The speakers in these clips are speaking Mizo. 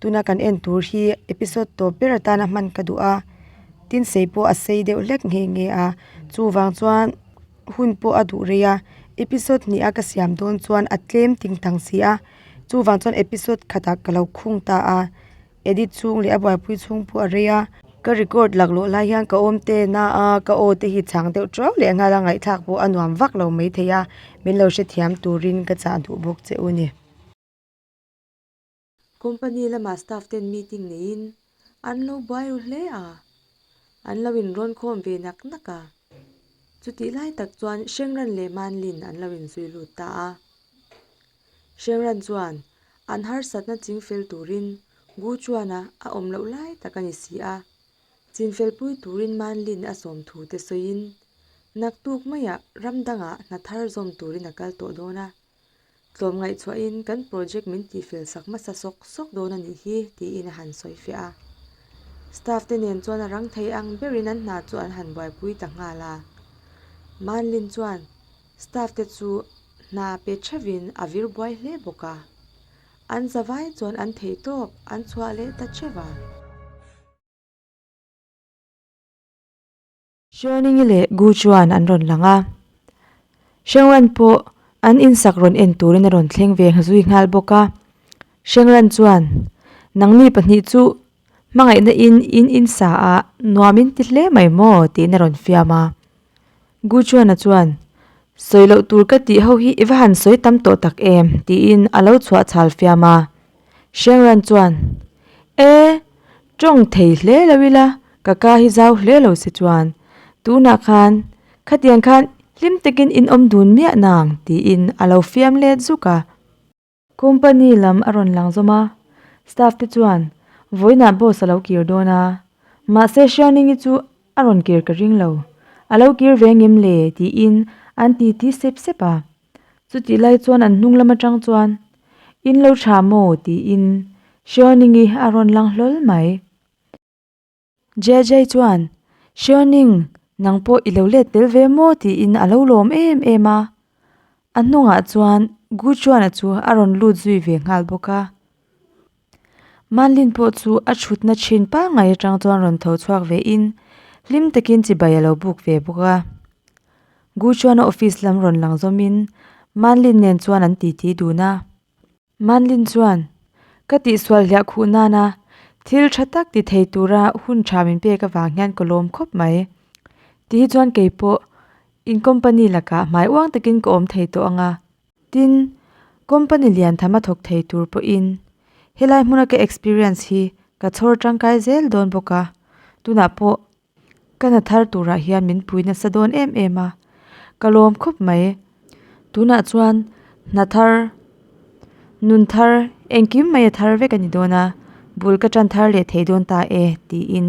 Tuna kan en tur hi episode tawp ber atana hman ka duh a, tin sei pawh a sei deuh hlek nghe nghe a, chuvang chuan hun pawh a duh rei a, episode hnih a ka siam dawn chuan a tlem ting tang si a, chuvang chuan episode khata ka lo khung ta a, edit chhung leh a buaipui chhung pawh a rei a, ka record lak loh lai hian ka awmtena a, ka aw te hi chhang deuh ṭuau leh a nghal a, ngaihthlak pawh a nuam vak lo mai thei a, min lo hrethiam turin ka chah duh bawk che u ni. Company lama staff ten meeting neiin an lo buai ru hle a, an lo inrawnkhawm ve nak nak a. Chutih lai tak chuan Hrengran leh Manlin an lo inzui lut ta a. Hrengran chuan an harsatna ching fel turin Gu Chuana a awm loh lai tak a ni si a, chinfelpui turin Manlin a sawm thu te sawiin naktuk maiah ram dangah hnathar zawm turin a kal tawh dawn a. Tlawm ngaihchhuahin kan project min tihfel sak hmasa sawk sawk dawn a nih hi tiin a han sawi fiah a. Staff te nen chuan a rang thei ang berin an hna chu an han buaipui ta nghal a. Manlin chuan staff te chu hna pe theuhin a vir buai hle bawk a, an za vai chuan an thei tawp an chhuah leh ta theuh a. Xiaoningi leh Gu chuan an rawn lang a, Hrengran pawh an insak rawn en turin a rawn thleng ve zui nghal bawk a. Hrengran chuan, Nang mi pahnih chu hmangaihna in in insa ah nuam in ti hle mai maw? tiin a rawn fiam a. Gu chuan-a chuan, Sawi loh tur ka tih ho hi i va han sawi tam tawh tak em? tiin a lo chhuah chhal fiam a. Hrengran chuan, E, Tawng thei hle lo ila, ka ka hi zau hle lo se chuan. Tunah khan, khatiang khan hlim takin in awm dun miah nang tiin a lo fiam let zuk a. Company lam a rawn lang zawm a, staff te chuan vawiinah boss a lo kir dawn a, mahse Hriangningi chu a rawn kir ka ring lo, a lo kir ve ngem le tiin an titi sep sep a. Chutih lai chuan an hnung lam atang chuan, In lo tha maw? tiin Hreawningi a rawn lang hlawl mai. Jia-jiai chuan, Hreawning, nang pawh i lo let tel ve maw? tiin a lo lawm em em a. A hnungah chuan Guchuana chu a rawn lut zui ve nghal bawk a. Manlin pawh chu a thutna thin pangngai atang chuan rawn tho chhuak ve in hlim takin chibai a lo buk ve bawk a. Gu chuan a office lam rawn lang zawm in Manlin nen chuan an titi dun a. Manlin chuan, Ka tihsual hliah khuh nana thil tha tak ti thei tura hun tha min pek avang hian ka lawm khawp mai. Ti hi chuan kei pawh in company lakah hmai uang takin ka awm thei tawh ang a, Tin, company lian thama thawk thei tur pawhin helai hmuna ka experience hi ka chhawr tangkai zel dawn bawk a, tunah pawh ka hna thar turah hian min pui nasa dawn em em a, ka lawm khawp mai. Tunah chuan hna thar, nun thar, engkim maia thar vek a ni dawn a, bul ka tan thar leh thei dawn ta e, tiin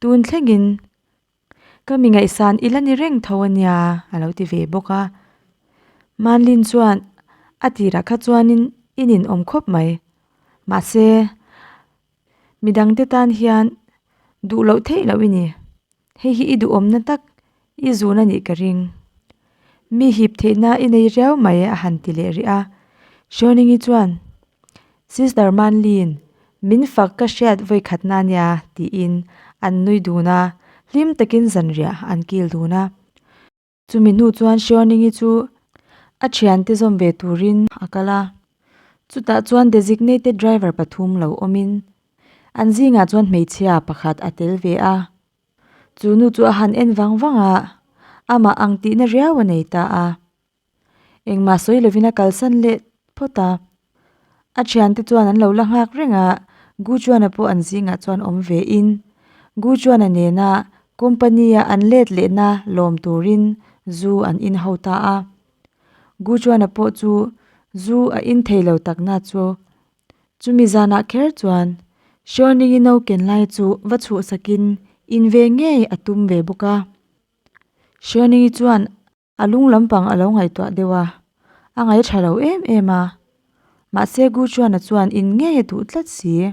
Tun thlengin ka mi ngaihsan ila ni reng tho ania a lo ti ve bawk a. Manlin chuan a tirah kha chuanin i nin awm khawp mai. Mahse, midangte tan hian duh loh theih loh i ni. Hei hi i duhawmna tak I zun anih ka ring. Mi hip theihna i nei riau mai e a han ti leh rih a. Hruainingi chuan, Sis Darmanli'n min fak ka hriat vawikhatna nia tiin an nui dun a, hlim takin zanriah an kil dun a. Chumi hnu chuan Hruainingi chu a thiante zawm ve turin a kal a. Chutah chuan Designated Driver pathum lo awmin an zingah chuan hmeichhia pakhat a tel ve a. Chu nu chu a han en vang vang a, amah ang tihna riau a nei ta a. Engmah sawi lovin a kalsan leh phawt a. A thiante chuan an lo la nghak reng a, Gu Chuana pawh an zingah chuan awm ve in, Gu Chuana nena company a an let lehna lawm turin zu an in ho ta a. Gu Chuana pawh chu zu a in thei lo takna chu Chumi zanah kher chuan Hriawlningi no ken lai chu va chhuh sakin in ve ngei a tum ve bawk a. Hriawlningi chuan a lung lampang a lo ngaihtuah deuh a, a ngai tha lo em em a. Mahse Gu Chuana chuan in ngei a duh tlat si.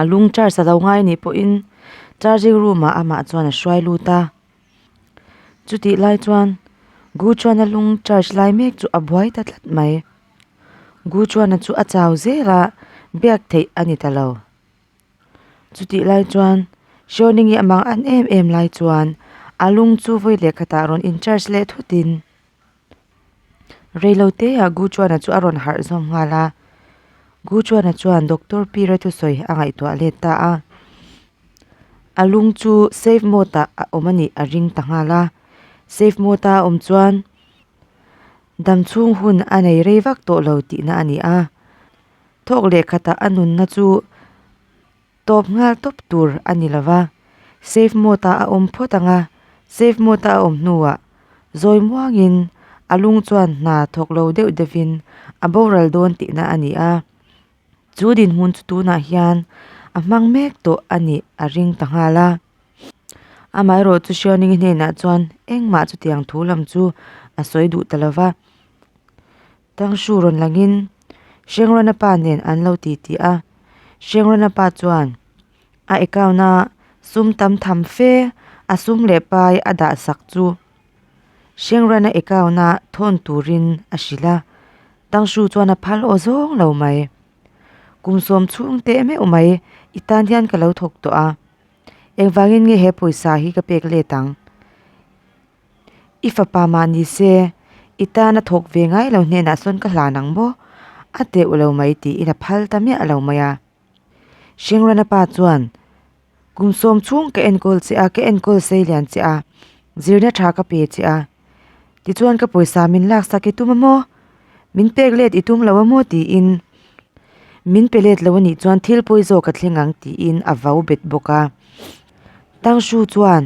a lung charge alo ngai a nih pawh in charging room ah amah chuan a hruai lut a chutih lai chuan gu chuan a lung charge lai mek chu a buai ta tlat mai gu chuan a chu a chau zel a biak theih a ni ta lo chutih lai chuan hrawlin hi a mang an em em lai chuan a lung chu vawi leh khatah rawn in charge leh thutin-- Reiloh te ah Gu Chuan a chu a rawn harh zawm nghal a, Gu Chuan a chuan Doctor Pi Retusawi a ngaihtuah let ta a, a lung chu safe mode ah a awm a nih a ring ta nghal a, safe mode a awm chuan dam chhung hun a nei rei vak tawh lo tihna a ni a, thawk leh khatah a nunna chu-- Tawp nghal tawp tur a ni lova, safe mode-ah a awm phawt ang a, safe mode-a a awm hnuah zawi muangin a lung chuan hna thawk lo deuh deuhin a boral dawn tihna a ni a, chu dinhmun chu tunah hian a hmang mek tawh a nih a ring ta nghal a. Amaherawh chu Hriauningin hnenah chuan engmah chutiang thu lam chu a sawi duh ta lova. Tangshu rawn langin Hrengrana pa nen an lo titi a, Hrengrana pa chuan a account a sum tam tham fe a sum leh pai a dah sak chu Hrengrana account a thawn turin a hrilh a, Tangshu chuan a phal aw zawng lo mai. Kum sawm chhung teh meuh mai i tan hian ka lo thawk tawh a, engvangin nge he pawisa hi ka pek let ang? I fapa mah ni se, i tan a thawk ve ngai lo hnenah sawn ka hlan ang maw? A teh u lo mai tiin a phal ta miah lo mai a. Hringrana pa chuan, Kum sawm chhung ka enkawl che a, ka enkawl sei lian che a, zirna tha ka pe che a, tichuan ka pawisa min laksak i tum a maw? min pek let i tum lo a maw tiin min pe let lo a nih chuan thil pawi zawk ka thleng ang tiin a vo bet bawk a Tangshu chuan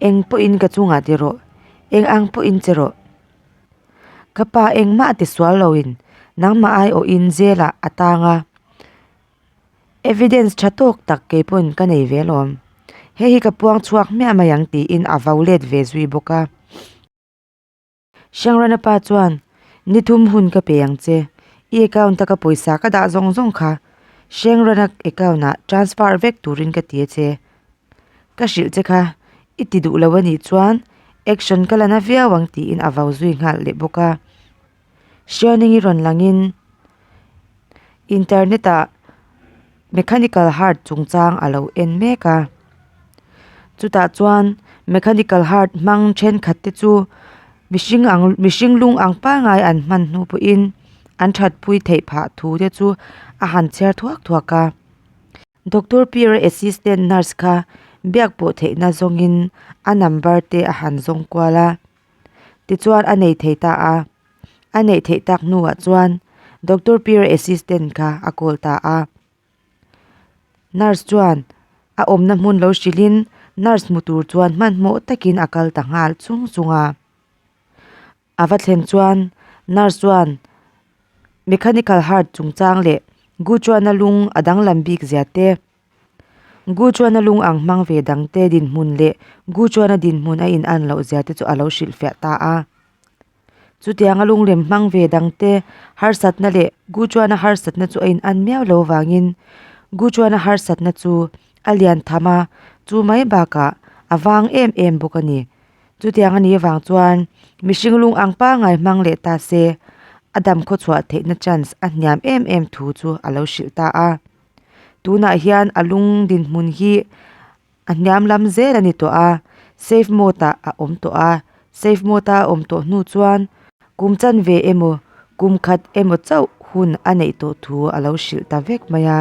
eng pawhin ka chungah ti rawh eng ang pawhin che rawh ka pa engmah ti sual lo in nangmah ai awh in jail-ah a tang a evidence tha tawk tak kei pawhin ka nei ve lawm hei hi ka puang chhuak miah mai ang tiin a vo let ve zui bawk a. Hriangrana pa chuan, Ni thum hun ka pe ang che, i account taka pawisa ka dah zawng zawng kha Hriangrana account ah transfer vek turin ka ti a che. Ka hrilh che kha, i ti duh lo a nih chuan action ka la na viau ang tiin a vau zui nghal leh bawk a. Hrianingi rawn langin internet ah mechanical heart chungchang a lo en mek a chutah chuan mechanical heart hmang thenkhat te chu mihring ang mihring lung ang pangngai an hman hnu pawhin an thatpui theih phah thu te chu a han chher thuak thuak a doctor Piara assistant nurse kha biak pawh theihna zawngin a number te a han zawng kual a. Tichuan a nei thei ta a. A neih theih tak hnuah chuan Doctor Pier assistant kha a call ta a. Nurse chuan a awmna hmun lo hrilhin nurse hmu tur chuan hmanhmawh takin a kal ta nghal chung chung a. A va thlen chuan nurse chuan mechanical heart chungchang leh guchuan a lung a danglam bik zia te. Gu Chuana lung ang hmang ve dangte dinhmun leh Gu Chuana dinhmun a in'an loh zia te chu a lo hrilhfiah ta a. Chutianga lungrem hmang ve dangte harsatna leh Gu Chuana harsatna chu a in'an miau lo vangin Gu Chuana harsatna chu a lian tham a, chu mai bakah a vang em em bawk a ni. Chutiang a ni avang chuan mihring lung ang pangngai hmang leh ta se a dam khawchhuah theihna chance a hniam em em thu chu a lo hrilh ta a. tunah hian a lung dinhmun hi a hniam lam zêl a ni tawh a safe mode ah a awm tawh a safe mode a awm tawh hnu chuan kum chanve emaw kum khat emaw chauh hun a neih tawh thu a lo hrilh ta vek mai a.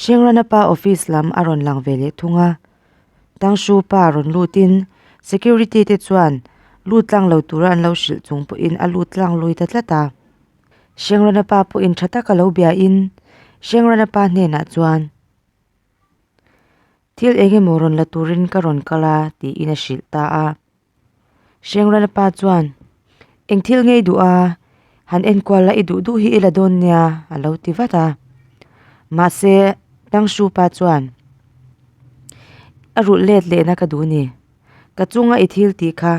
Hringrana pa office lam a rawn lang ve leh thung a, Tangshu pa rawn lutin security te chuan lut tlang lo tura an lo hrilh chung pawhin a lut tlang lui ta tlat a. Hringrana pa pawhin tha taka lo bia in Hringrana pa hnenah chuan, Thil eng emaw rawn la turin ka rawn kal a, tiin a hrilh ta a. Hrengrana pa chuan, Eng thil ngei duh a, han enkual la i duh duh hi i la dawn nia, a lo ti vat a. Mahse, Tangshu pa chuan, A rulh let leh na ka duh ni. Ka chunga i thil tih kha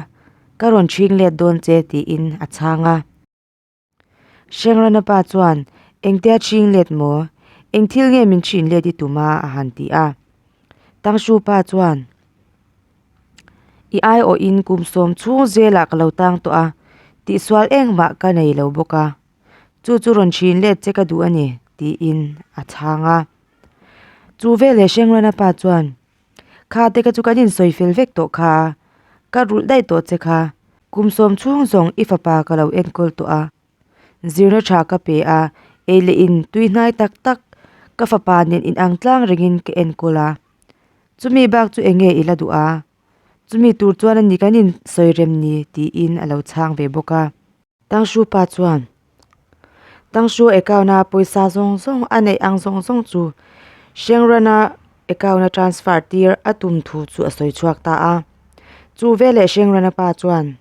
ka rawn chhing let dawn che tiin a chhang a. Hrengrana pa chuan, Engte a ching let maw? Eng thil nge min chhin let i tum a? a han ti a. Tangshu pa chuan, I aiawh in kum sawm chhung zela ka lo tang tawh a, tihsual engmah ka nei lo bawk a, chu chu rawn chhin let che ka duh a ni, tiin a chhang a. Chu veleh Hrengrana pa chuan, Kha te ka chu kan in sawi fel vek tawh kha, ka rulh daih tawh che kha, kum sawm chhung zawng i fapa ka lo enkawl tawh a, zirna tha ka pe a, ei leh in tui hnai tak tak ka fapa nen in ang tlang reng in ka enkawl a, chumi bak chu enge i la duh a, chumi tur chuan a ni kan in sawi rem ni tiin a lo chhang ve bawk a. Tangshu pa chuan Tangshu account a pawisa zawng zawng a neih ang zawng zawng chu Hrengrana account a transfer tir a tum thu chu a sawi chhuak ta a, chu veleh Hrengrana pa chuan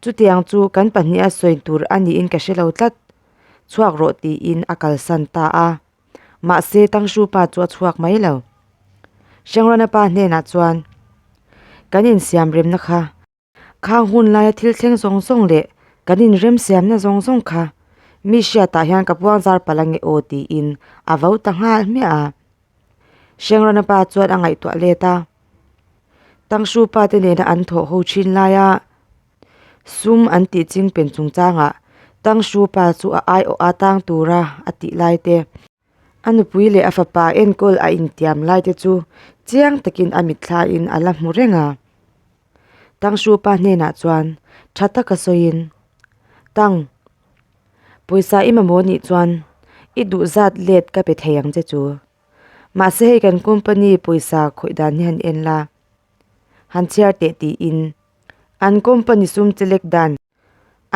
Chutiang chu kan pahnih a sawi tur a niin ka hre lo tlat chhuak rawh tiin a kalsan ta a, mahse Tangshu pa chu a chhuak mai lo. Hrengrana pa hnenah chuan Kan insiam remna kha. Khang hun laia thil thleng zawng zawng leh kan inremsiamna zawng zawng kha mi hriatah hian ka puangzar palh a nge aw tiin a vo ta nghal hmiah a. Hrengrana pa chuan a ngaihtuah let a, Tangshu pa te nena an thawh ho thin laia sum an tih ching pen chungchangah Tangshu pa chu a aiawh atang tura a tih lai te. A nupui leh a fapa enkawl a intiam lai te chu chiang takin a mitthlain a la hmu reng a. Tangsupa hnenah chuan tha taka sawiin, Tang, pawisa i mamawh nih chuan i duhzat let ka pe thei ang che chu. Mahse hei kan company pawisa khawih dan hi han en la, han chhiar teh tiin an company sum che lek dan.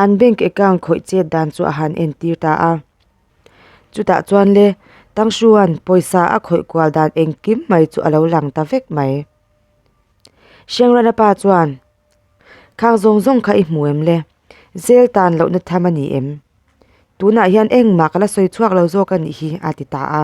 An bank account khawih chet dan chu a han entir ta a. Chutah chuan le Tangsuan pawisa a khawih kual dan engkim mai chu a lo lang ta vek mai. Hrengrana pa chuan, Khang zawng zawng kha i hmu em le? Zel tan lohna tham a ni em? Tunah hian engmah ka la sawi chhuak lo zawk a nih hi, a ti ta a.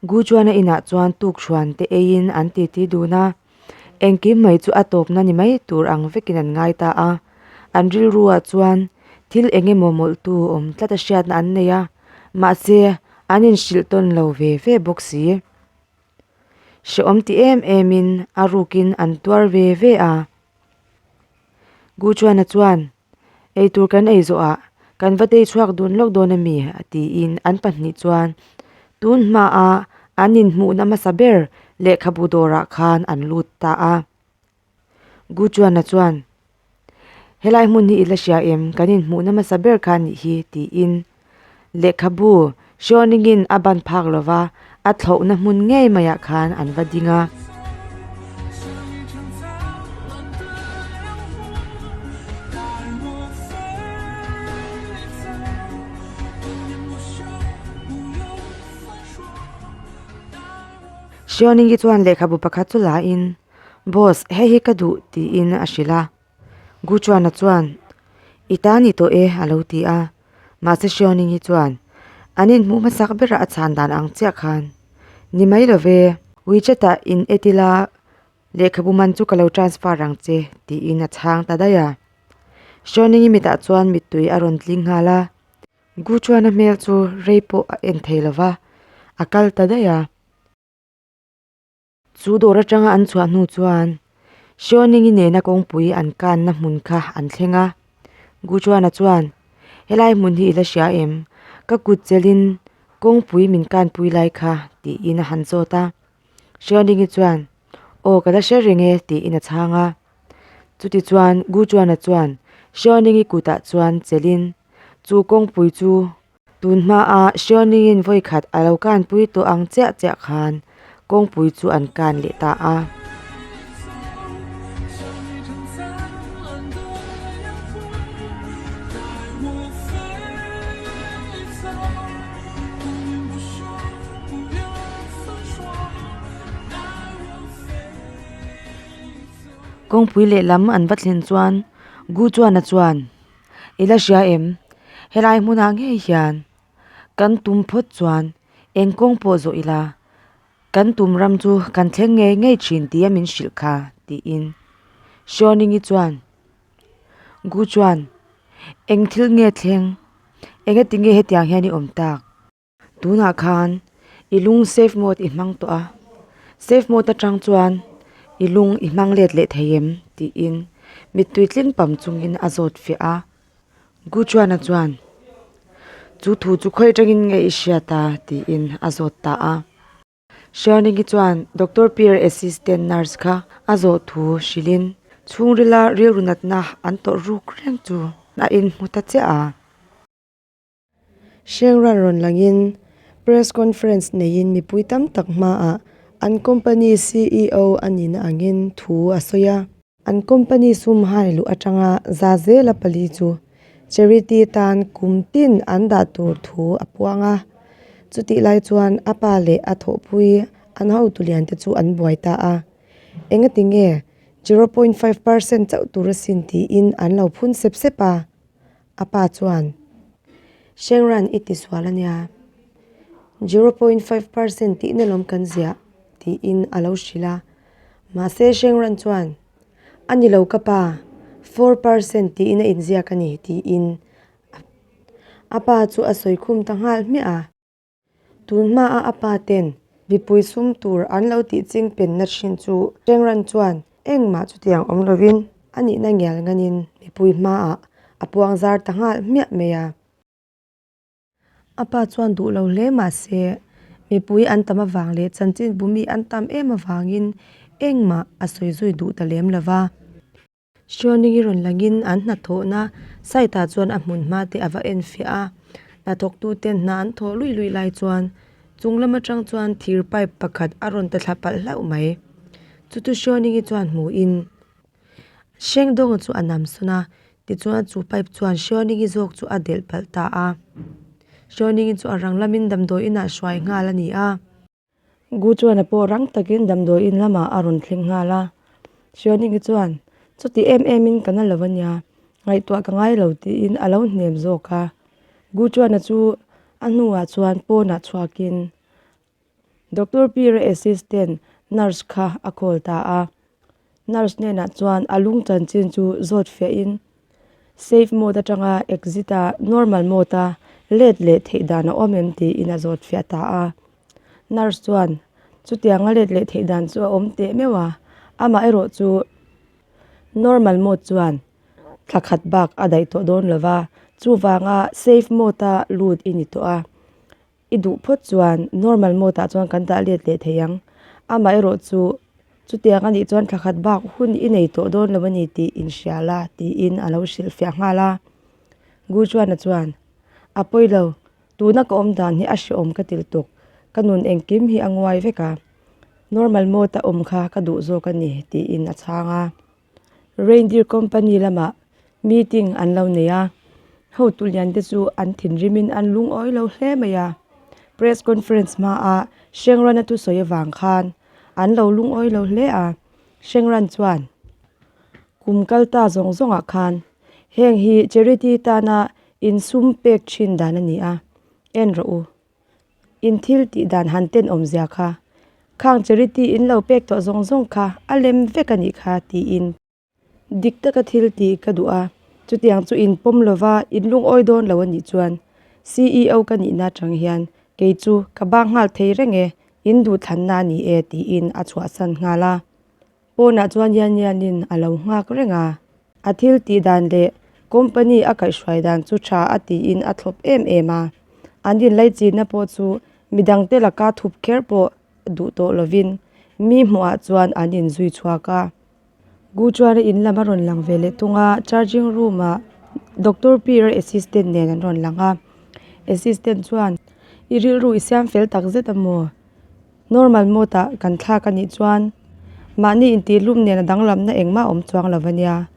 Guchuana inah chuan tukchhuan te eiin an titi dun a, engkim mai chu a tawpna ni mai tur ang vekin an ngai ta a. An rilruah chuan thil eng emaw mawlhtu awm tlat a hriatna an nei a, mahse an inhrilh tawn lo ve ve bawk si. Hrehawm ti em emin a rukin an tuar ve ve a. Guchuana chuan. Eitur kan ei zawh ah kan va tei chhuak dun lawk dawn a mi? a tiin an pahnih chuan tun hma a an in hmuh na hmasa ber lehkhabu dawr ah khan an lut ta a. Gu Chuana chuan, Helai hmun hi i la hria em, kan in hmuh na hmasa ber khan nih hi tiin Lehkhabu Shawning-in a ban phak lo va, a thlauhna hmun ngei maiah khan an va ding a. Shawning-i chuan lehkhabu pakhat chu la in, Boss, hei hi ka duh, tiin a hrilh a. Guchuana chuan, I ta ni tawh e, a lo ti a. Mahse Xiaoning hi chuan, An inhmuh hmasak bera a chhan dan ang chiah khan. Ni mai lo ve. WeChat ah in et ila, lehkhabu man chu ka lo transfer ang che, tiin a chhang ta daih a. Xiaoning i mitah chuan mittui a rawn tling nghal a. Guchuana hmel chu rei pawh a en thei lo va, a kal ta daih a. Chu dawr atanga an chhuah hnu chuan Sioningi nena kawngpui an kanna hmun kha an thleng a, Guchuana chuan, Helai hmun hi i la hria em? Ka kut chelhin kawngpui min kanpui lai kha, tiin a han zawt a. Sioningi chuan, Aw ka la hre reng e, tiin a chhang a. Chutichuan Guchuana chuan Sioningi kutah chuan chelhin chu kawngpui chu. Tun hmaa Hriawningin vawi khat a lo kanpui tawh ang chiah chiah khan kawngpui chu an kan leh ta a. Kawngpui lehlam an va thlen chuan Gu Chuana chuan. i la hria em? Helai hmunah ngei hian kan tum phawt chuan eng kawng pawh zawh ila, kan tum ram chu kan thleng ngei ngei thin tia min hrilh kha, tiin Hriawningii chuan Gu chuan, Eng thil nge thleng? Engatinge hetiang hian i awm tak? Tunah khan i lung safe mode i hmang tawh a, safe mode atang chuan i lung i hmang let leh thei em? tiin mittui tling pam chungin a zawt fiah a. Gu Chuana chuan, Chu thu chu khawi atangin nge i hriat a? tiin a zawt ta a. Hrianingi chuan Doctor Peer Assistant Nurse kha a zawh thu hrilhin chhungrila rilru natna an tawrh ruk reng chu a inhmu ta chiah a. Hreng ran rawn langin press conference neiin mipui tam tak hmaah an company CEO a nihna angin thu a sawi a. An company sumhai luh atanga za zela pali chu charity tan kum tin an dah tur thu a puang a. Chutih lai chuan a pa leh a thawhpui an hotu liante chu an buai ta a, Enga ti nge zero point five percent chauh tur a sin tiin an lo phun sep sep a, A pa chuan, Hreng ran i tisual a nia, zero point five percent tihna lawm kan ziah, tiin a lo hrilh a. Mahse Hreng ran chuan, A ni lo ka pa, four percent tiin a inziak a ni, tiin a pa chu a sawi khum ta nghal hmiah a. Tun hmaah a pa ten mipui sum tur an lo tih ching penna thin chu Hreng Ran chuan engmah chutiang awm lovin a nihna ngial nganin mipui hmaah a puang zar ta nghal hmiah mai a. A pa chuan duh lo hle mahse mipui an tam avang leh chanchin bumi an tam em avangin engmah a sawi zui duh ta lem lova. Hriawningin rawn langin an hnathawhna site-ah chuan a hmun hma te a va en fiah a, hnathawktu ten hna an thawh luih luih lai chuan chung lam atang chuan thir pipe pakhat a rawn ta thla palh hlauh mai. Chutu Hriawningin chuan hmuhin hreng dawng chu a nam sawn a, tichuan chu pipe chuan Hriawningin zawk chu a delh palh ta a. Hriawningin chu a rang lamin damdawiin a hruai nghal a ni a. Gu chuan a pawh rang takin damdawi in lamah a rawn thleng nghal a. Hrianingi chuan, Chutih em em in ka na lo a nia, ngaihtuah ka ngai lo tiin a lo hnem zawk a. Gu chuan a chu a hnuah chuan pawnah chhuakin Doctor Pira assistant nurse kha a call ta a. Nurse hnenah chuan a lung chanchin chu zawt fiah in Safe mode atanga Exit a Normal mode a let leh theih dan a awm em tiin a zawt fiah ta a. Nurse chuan Chutianga let leh theih dan chu a awm teh meuh a, amaherawh chu Normal mode chuan thla khat bak a daih tawh dawn lo va, chuvanga Safe mode a lut i ni tawh a. I duh phawt chuan normal mode ah chuan kan dah let leh thei ang. Amah erawh chu, chutiang a nih chuan thla khat bak hun i nei tawh dawn lo a ni tih in hria la tiin a lo hrilhfiah nghal a. Guchuana chuan, A pawi lo, tuna ka awm dan hi a hreawm ka tel tuk. Ka nun engkim hi a nguai vek a. Normal mode a awm kha ka duh zawk a ni tiin a chhang a. Reindeer company lamah meeting an lo nei a, hotu lian te chu an thinrim in an lungawi lo hle mai a, press conference hma a Shengran a thu sawi avang khan an lo lungawi lo hle a, Shengran chuan kum kal ta zawng zawng ah khan heng hi charity tana insum pek thin dan a ni a, en rawh u. in thil tih dan han ten awm zia kha khang charity in lo pek tawh zawng zawng kha a lem vek a nih kha tiin dik taka thil ti ka duh a chutiang chu in pawm lo va in lungawi dawn lo a nih chuan CEO ka nih na atang hian kei chu ka bang nghal thei reng e in duh thlan na a ni e tiin a chhuah san nghal a Pawnah chuan Yanianin a lo nghak reng a, a thil tih dan leh company a kaihhruai dan chu tha a tiin a thlawp em em a, an inlei chinna pawh chu midangte laka thup kher pawh duh tawh lovin mi hmuhah chuan an inzui chhuak a. Gu chuan in lam a rawn lang ve leh thung a, charging room ah Doctor Pira assistant nen an rawn lang a, assistant chuan i rilru i siam fel takzet a maw Normal mode-a kan thlak a nih chuan mahni intihlum nena danglamna engmah awm chuang lo ania,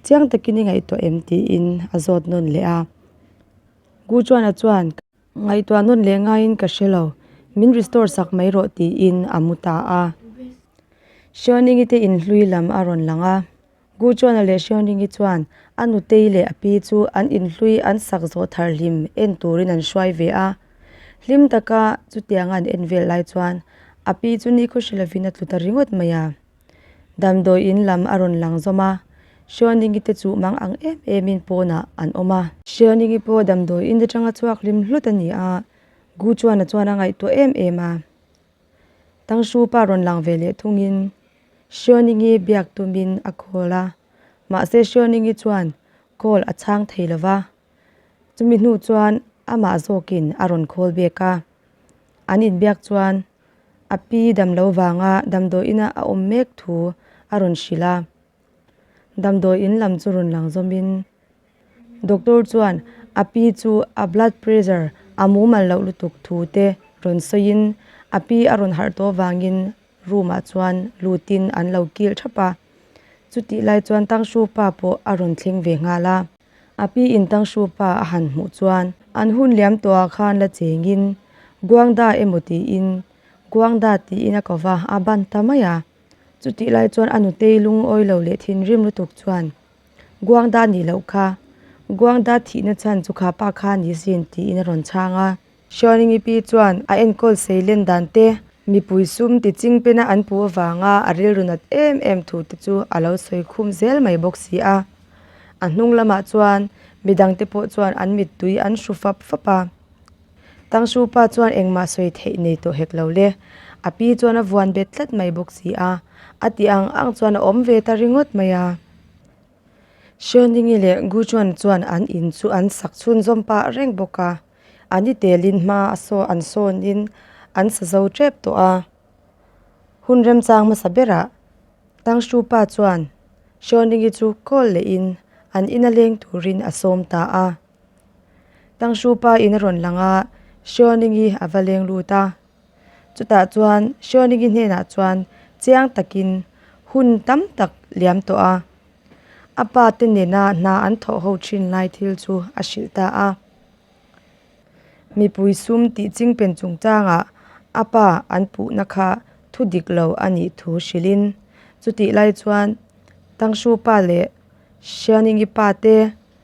chiang takin i ngaihtuah em tiin a zawt nawn leh a. Gu Chuana chuan, Ngaihtuah nawn leh ngaiin ka hre lo, min restore sak mai rawh tiin a mu ta a. Hriawningite inhlui lam a rawn lang a. Gu Chuana leh Hriawn Ringi chuan a nu tei leh a pi chu an inhlui an sak zawh thar hlim en turin an hruai ve a. Hlim taka chutianga an en vel lai chuan a pi chu ni khaw hrilh avin a tlu ta ringawt mai a. Damdawi in lam a rawn lang zawm a, Hriawn Ringi te chu mang ang em emin pawnah an awm a. Hriawn Ringi pawh damdawi in atanga chhuak hlim hlut a ni a, Gu Chuana chuan a ngaihtuah em em a. Tangsupa rawn lang ve leh thungin Hriawningii biak tumin a call a, mahse Hriawningii chuan call a chhang thei lo va, chumi hnu chuan amah zawkin a rawn call back a, an inbiak chuan a pi damlo vanga damdawiina a awm mek thu a rawn hrilh a. Damdawi in lam chu rawn lang zawm in doctor chuan a pi chu a blood pressure a mumal loh lutuk thu te rawn sawi in a pi a rawn harh tawh vang in room ah chuan lut in an lo kil thap a. Chutih lai chuan Tangshu pa pawh a rawn thleng ve nghal a. A pi in Tangshu pa a han hmuh chuan an hun liam tawh ah khan la cheng in Guangda emaw tiin Guangda tiin a ko va a ban ta mai a. Chutih lai chuan a nutei lungawi lo leh thinrim lutuk chuan, Guangda nih loh kha, Guangda thihna chhan chu kha pa kha ni sin tiin a rawn chhang a. Xiaoningi pi chuan a enkawl sei len dan te, mipui sum tiching pena an pu avanga a rilru nat em em thu te chu a lo sawi khum zel mai bawk si a. A hnung lamah chuan midang te pawh chuan an mittui an hru fap fap a. Tangsu pa chuan engmah sawi theih nei tawh hek lo le, a pi chuan a vuan bet tlat mai bawk si a, a ti ang ang chuan a awm ve ta ringawt mai a. Hriaoningi leh Guchuan chuan an in chu an sak chhunzawm pah reng bawk a, a ni telin hma a sawn an sawnin an sa zo tep tawh a. Hun remchang hmasa berah Tangsu pa chuan Hriaoningi chu kawl lehin an ina leng turin a sawm ta a. Tangshu pa in a rawn lang a, Hriawning hi a va leng lut a. Chutah chuan Hriawning-i hnenah chuan chiang takin hun tam tak liam tawh a. A pa te nena hna an thawh ho thin lai thil chu a hrilh ta a. Mipui sum tih ching pen chungchangah a pa an puhna kha thu dik lo a nih thu hrilhin, chutih lai chuan Tangshu pa leh Hrianing-i pa te,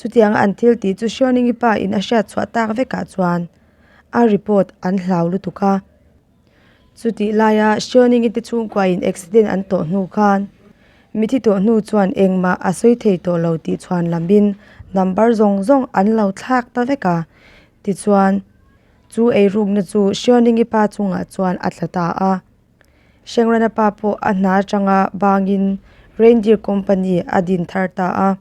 Chutianga an thil tih chu Hriaunengi pa in a hriat chhuah tak vekah chuan a report an hlau lutuk a. Chutih laia Hriaunengi te chhungkua in accident an tawh hnu khan mithi tawh hnu chuan engmah a sawi thei tawh lo tih chhuan lam in number zawng zawng an lo thlak ta vek a. Tichuan chu ei rukna chu Hriaunengi pa chungah chuan a tla ta a. Hrengrana pa pawh a hna atanga bangin Reindeer Company a din thar ta a.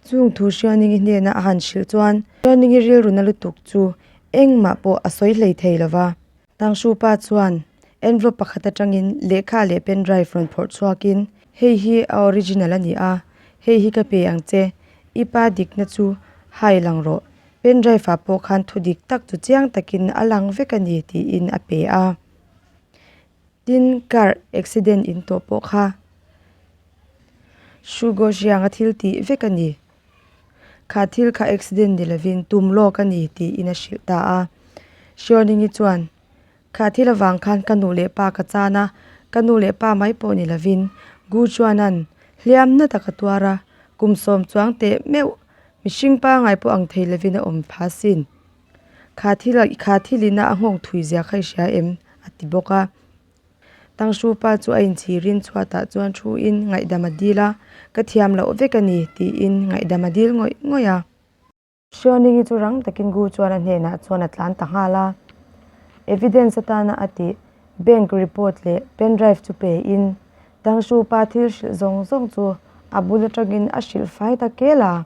Chung thu Hrianingi hnena a han hrilh chuan Hrianingi rilruna lutuk chu engmah pawh a sawi hlei thei lova. Tangshu pa chuan envelope pakhat atangin lehkha leh pen drive rawn phawrh chhuakin, Hei hi a original a ni a, hei hi ka pe ang che, i pa dikna chu hai lang rawh, pen drive-ah pawh khan thudik tak chu chiang takin a lang vek a ni, tiin a pe a. tin car accident in tawh pawh kha Shugo Zhianga thil tih vek a ni. Kha thil kha accident ni lovin tum lawk a ni tiin a hrilh ta a. Hriawninghi chuan, Kha thil avang khan ka nu leh pa ka chan a, ka nu leh pa mai pawh ni lovin Gu Chuanan hliam na taka tuar a, kum sawm chuang teh meuh, mihring pangngai pawh ang thei lovin a awm pha sin. Kha thil a, kha thil ina a nghawk thui ziah kha i hria em? a ti bawk a. Tangshru pa chu a inchirin chhuatah chuan thuin ngaihdam a dil a, ka thiam loh vek a ni, tiin ngaihdam a dil ngawih ngawih a. Hrianingi chu rang takin Gu Chuana hnenah chuan a tlan ta nghal a, evidence atana a tih, bank report leh pen drive chu peiin Tangshru pa thil hrilh zawng zawng chu a bul atangin a hrilh fai ta kel a.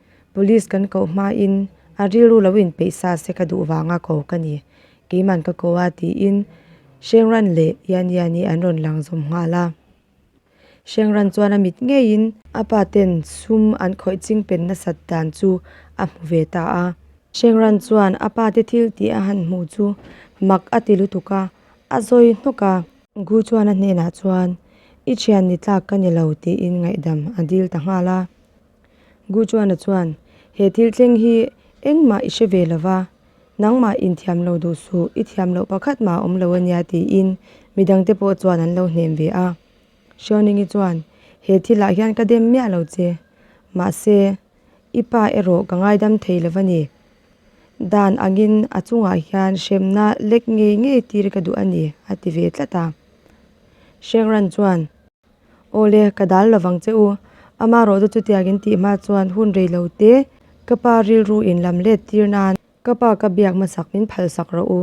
Police kan koh hmain a rilru lo inpeih sa se ka duh vanga ko ka ni, keiman ka ko a tiin Hrengran leh Yanyani an rawn lang zawm nghal a. Hrengran chuan a mit ngeiin. A paten sum an khawih ching pen nasat dan chu a hmu ve ta a. Hrengran chuan a pate thil tih a han hmuh chu mak a ti lutuk a, a zawi hnawk a. Gu chuan a hnenah chuan, I thian ni tlak ka ni lo tiin ngaihdam a dil ta nghal a. Gu Chuana chuan, He thil thleng hi engmah i hre ve lo va, nangmah inthiam lo duh suh, i thiam loh pakhat mah awm lo a nia tiin midang te pawh chuan an lo hnem ve a. Xiaoningi chuan, He thilah hian ka dem miah lo che, mahse, i pa erawh ka ngaidam thei lo va ni. Dan angin a chungah hian hremna lek ngei ngei tir ka duh a ni, a ti ve tlat a. Shengran chuan, Awle, ka dal lovang che u. Amarawh chu chutiak in tih hma chuan hun rei lo te ka pa rilru in lam let tir nan ka pa ka biak hmasak min phalsak rawh u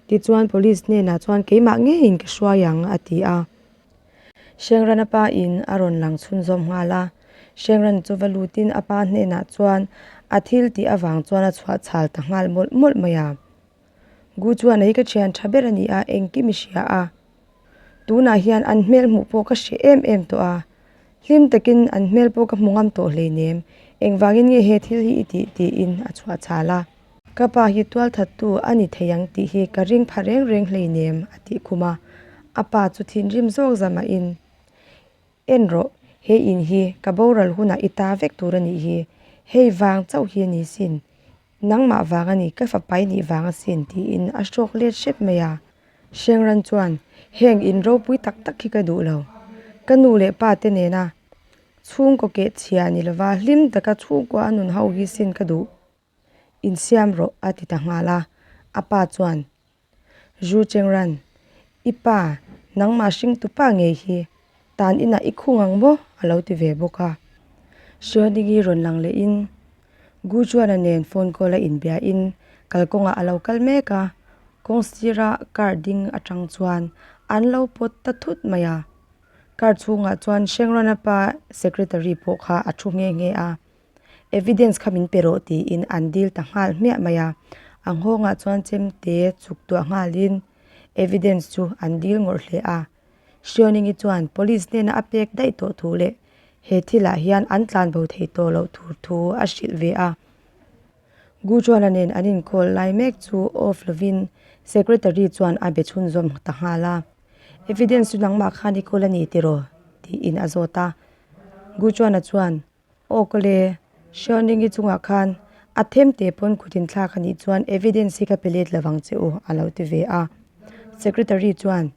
tichuan police hnenah chuan keimah ngeiin ka hruai ang a ti a. Hrengrana pa in a rawn lang chhun zawm nghal a, Hrengrana chu va lut in a pa hnenah chuan a thil tih avang chuan a chhuah chhal ta nghal mawlh mawlh mai a. Gu chuan ei ka thian tha ber a ni a, engkim i hria a? Tunah hian an hmel hmuh pawh ka hre em em tawh a, hlim takin an hmel pawh ka hmu ngam tawh hlei nem, engvangin nge he thil hi i ti? tiin a chhuah chal a. Ka pa hi tual thattu a ni thei ang tih hi ka ring pha reng reng hlei nem a ti khum a, a pa chu thinrim zawk za mahin, En rawh, he in hi ka boral hunah i ta vek tur a nih hi, hei vang chauh hi a ni sin. Nangmah vang a ni, ka fapai nih vang a sin, tiin a hrawk let hrep mai a. Hriangran chuan, Heng in ropui tak tak hi ka duh lo. Ka nu leh pa te nena chhungkaw keh chhia a ni lova, hlim taka chhungkaw a nun ho hi sin ka duh. Insiam rawh, a ti ta nghal a. A pa chuan, Zhu Chengran, I pa, nangmah hring tupa ngei hi, tan inah i khung ang maw? a lo ti ve bawk a. Hriaidingi rawn lang lehin Gu Juana nen phone call a inbiahin kalkawngah a lo kal mek a, kawng sira car ding atang chuan an lo pawt ta thut mai a. Car chhungah chuan Chengran-a pa secretary pawh kha a thu nghe nghe a. Evidence kha min pe rawh tiin an dil ta nghal hmiah mai a. A nghawngah chuan Chemte chuk tuah nghalin evidence chu an dil ngawrh hle a. Hriawningyi chuan police hnena a pek daih tawh thu leh he thilah hian an tlanbo thei tawh loh tur thu a hrilh ve a. Gu Chuana nen an inkawl lai mek chu off lovin Secretary chuan a be chhun zawm ta nghal a. Evidence chu nangmah khan i kawl a ni tiraw? tiin a zawt a. Gu Chuana chuan. Awk le, Hriawn ring hi chungah khan a them teh pawn kut in thlak a nih chuan evidence hi ka pe let lo vang che u, a lo ti ve a. Secretary chuan,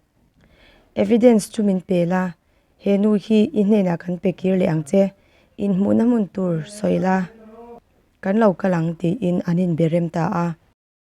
Evidence chu min pe la, he nu hi i hnenah kan pe kir leh ang che, inhmuhna hmun tur sawi la kan lo kal ang, tiin an inbe rem ta a.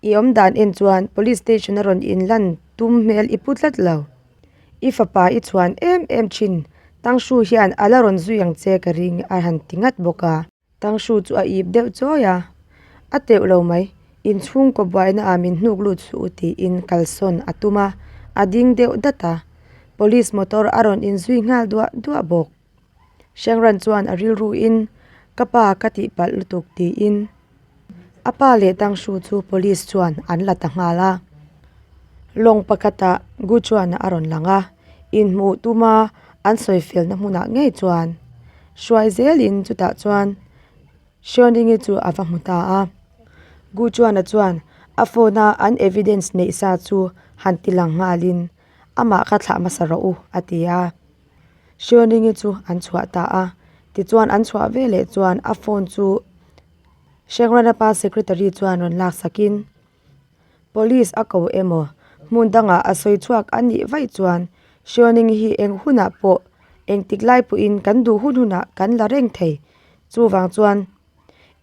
I awm dan en chuan police station a rawn in lan tum hmel i pu tlat lo, i fapa i chhuan em em thin, Tangshu hian a la rawn zui ang che ka ring a han ti ngat bawk a. Tangshu chu a ip deuh chawi a, a teuh lo mai, inchhung kawbuaina ah min hnuk lut suh u tiin kalsawn a tum a, a ding deuh dat a, police motor a rawn in zui nghal duah duah bawk. Shengran chuan a rilruin, Ka pa ka tihpalh lutuk, tiin a pa leh Tangshu chu police chuan an la ta nghal a. Lawng pakhata Gu chuan a rawn lang a, inhmuh tuma an sawifialna hmunah ngei chuan hruai zelin chutah chuan Shonringe chu a va hmu ta a. Gu chuan a chuan a phone a an evidence neih sa chu han ti lang nghalin amah ka thlah hmasa rawh u, a ti a. Hrion ringe chu an chhuah ta a, tichuan an chhuah ve leh chuan a phone chu Hreng Ranapa secretary chuan rawn lak sak in police a ko emaw hmun dangah a sawi chhuak a nih vaih chuan Hrion ring hi eng hunah pawh engtik lai pawh in kan duh hun hunah kan la reng thei chuvang chuan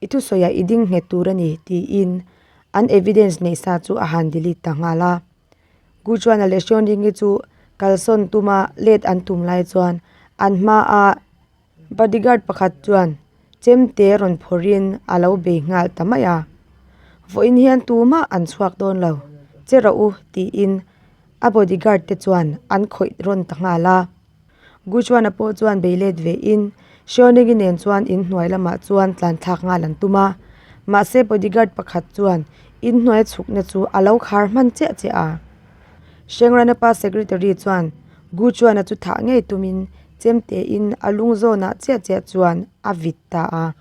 i thusawi ah i ding nghet tur a ni tiin an evidence neih sa chu a han delete ta nghal a. Guchuana leh Hriawnringi chu kalsawn tuma let an tum lai chuan an hmaa bodyguard pakhat chuan chemte rawn phawrhin a lo bei nghal ta mai a, vawiin hian tumah an chhuak dawn lo che rawh u tiin a bodyguard te chuan an khawih rawn ta nghal a. Guchuana pawh chuan bei let ve in Xiaoningi nen chuan in hnuai lamah chuan tlanthlak nghal an tum a, mahse bodyguard pakhat chuan in hnuai chhukna chu a lo khar hman chiah chiah a. Shengran-a pa secretary chuan Guchuana chu thah ngei tumin chem tein a lungzawnah chiah chiah chuan a vit ta a.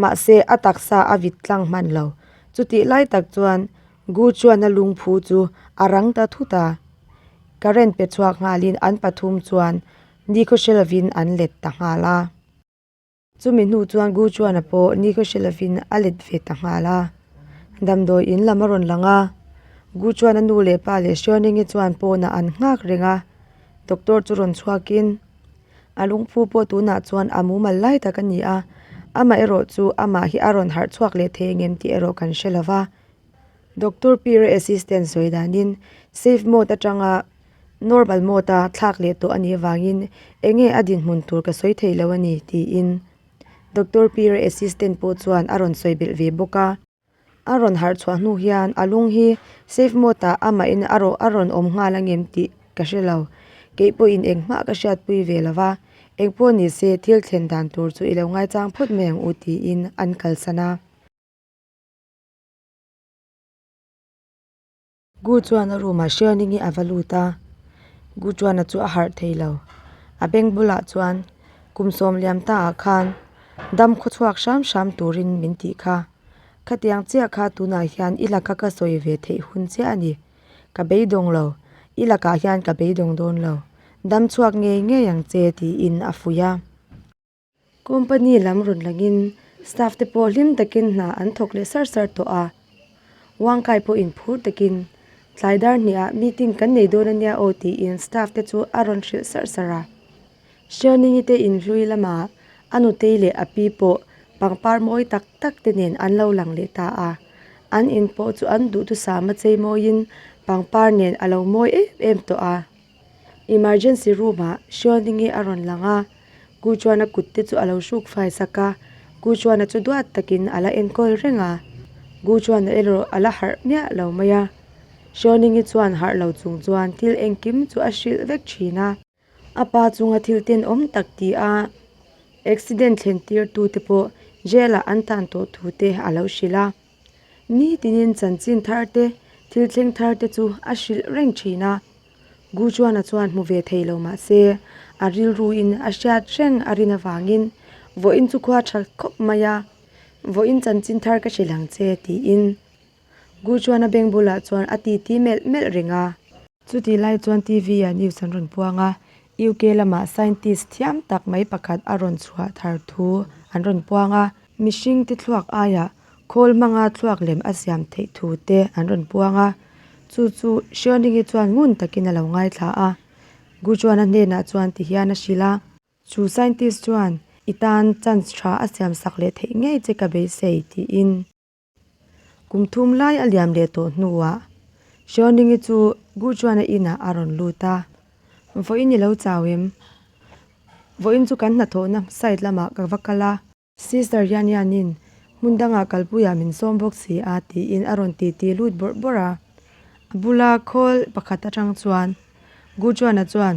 Mahse, a taksa a vit tlang hman lo. Chutih lai tak chuan Gu Chuana lungphu chu a rang ta thut a, current pe chhuak nghalin an pathum chuan nikhaw hre lovin an let ta nghal a. Chumi hnu chuan Gu Chuana pawh nikhaw hre lovin a let ve ta nghal a. Damdawi in lam a rawn lang a, Gu Chuana nu leh pa leh Hriaunenge chuan pawnah an nghak reng a, doctor chu rawn chhuakin A lungphu pawh tunah chuan a mumal lai tak a ni a, amaherawh chu amah hi a rawn harh chhuak leh thei engem tih erawh kan hre lova, Doctor Pira assistant sawi danin safe mode atanga normal mode a thlak leh tawh a nih avangin eng nge a dinhmun tur ka sawi theih loh a ni, tiin Doctor Pira assistant pawh chuan a rawn sawi belh ve bawk a. A rawn harh chhuah hnu hian a lung hi safe mode ah a mah in a rawh a rawn awm nghal ang em tih ka hre lo kei pawh in eng hmah ka hriat pui ve lo va eng pawh ni se thil thlen dan tur chu i lo ngai chang phawt mai ang u tiin an kalsan a. Gu chuan a room ah hriaini nge ava lut a, Gu Chuana chu a harh thei lo. A bank bulah chuan kum sawm liam ta ah khan dam khaw chhuak hram hram turin min tih kha. Khatiang chiah kha tunah hian i laka ka sawi ve theih hun chiah a ni. Ka beidawng lo, i lakah hian ka beidawng dawn lo. Dam chhuak ngei ngei ang che tiin a fuih a. Company lam rawn lang in staff te pawh hlim tak in hna an thawk leh sar sar tawh a, Wangkai pawh in phur tak in tlai dar hnih ah meeting kan nei dawn a nia aw tih in staff te chu a rawn hrilh sar sar a, Sherningi te in hlui lam ah a nutei leh a pi pawh pangpar mawi tak tak te nen an lo lang leh ta a, an in pawh chu an duhtu sam a chei mawi in pangpar nen a lo mawi em em tawh a. Emergency room ah Hrial Hring hi a rawn lang a, Gu Chuana kut te chu a lo hruk fai sak a, Gu Chuana chu duat takin a la enkawl reng a, Gu Chuana erawh a la harh miah lo mai a, Hrial Hring hi chuan harh lo chung chuan thil engkim chu a hrilh vek thin a, a pa chunga thil ten awm tak ti a, accident thlen tirtu te pawh jail ah an tan tawh thu te a lo hrilh a. Nitinin chanchin thar te, thil thleng thar te chu a hrilh reng thin a. Gu Chuana chuan hmu ve thei lo mah se, a rilru in a hriat reng a rin avangin vawiin chu khua a tha khawp mai a. Vawiin chanchin thar ka hrilh ang che, tiin Gu Chuana beng bulah chuan a titi melh melh reng a. Chutih lai chuan TV ah news an rawn puang a, UK lamah scientist thiam tak mai pakhat a rawn chhuah thar thu an rawn puang a, mihring tithluak aiah khawl hmanga thluak lem a siam theih thu te an rawn puang a, chu chu Hriaoningi chuan ngun takin a lo ngaithla a, Gu Juana hnenah chuan ti hian a hrilh a. Chu scientist chuan, I tan chance tha a siamsak leh theih ngei che ka beisei, tiin. Kum thum lai a liam leh tawh hnuah Hriauningyi chu Guchuana inah a rawn lut a, Vawiin i lo chau em? Vawiin chu kan hnathawhna side lamah ka va kal a. Sister Yanyanin hmun dangah kalpuiah min sawm bawk si a, tiin a rawn titi lut bawrh bawrh a. A bula khawl pakhat atang chuan Guchuana chuan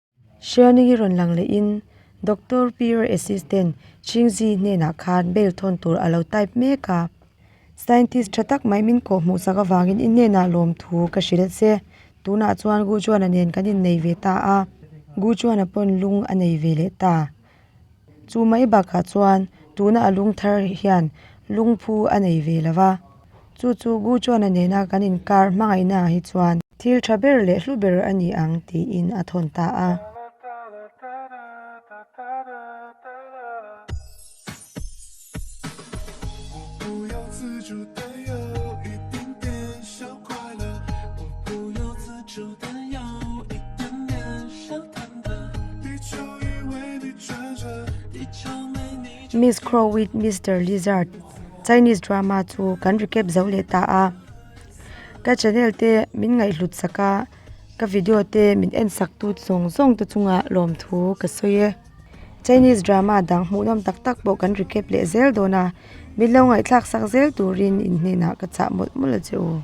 Hriani hi rawn lang leh in Doctor Peer Assistant, Ching Zi, hnenah khan bail thawn tur a lo type mek a. Scientist tha tak mai min kawh hmuh sak avangin i hnenah lawm thu ka hrilh che. Tunah chuan Gu Chuana nen kan innei ve ta a, Gu Chuana pawn lung a nei ve leh ta. Chu mai bakah chuan tuna a lung thar hi hian lungphu a nei ve lo va, chu chu Gu Chuana nena kan inkar hmangaihna ah hi chuan thil tha ber leh hlu ber a ni ang tiin a thawn ta a. Miss Crow with Mister Lizard Chinese drama chu kan recap zo leh ta a ka channel te min ngaihhlut sak a ka video te min en sak tu zawng zawng te chungah lawmthu ka sawi e. Chinese drama dang hmuhnawm tak tak pawh kan ri kep leh zel dawn a, min lo ngaihthlak sak zel turin in hnenah ka chah mawlh mawlh a che aw.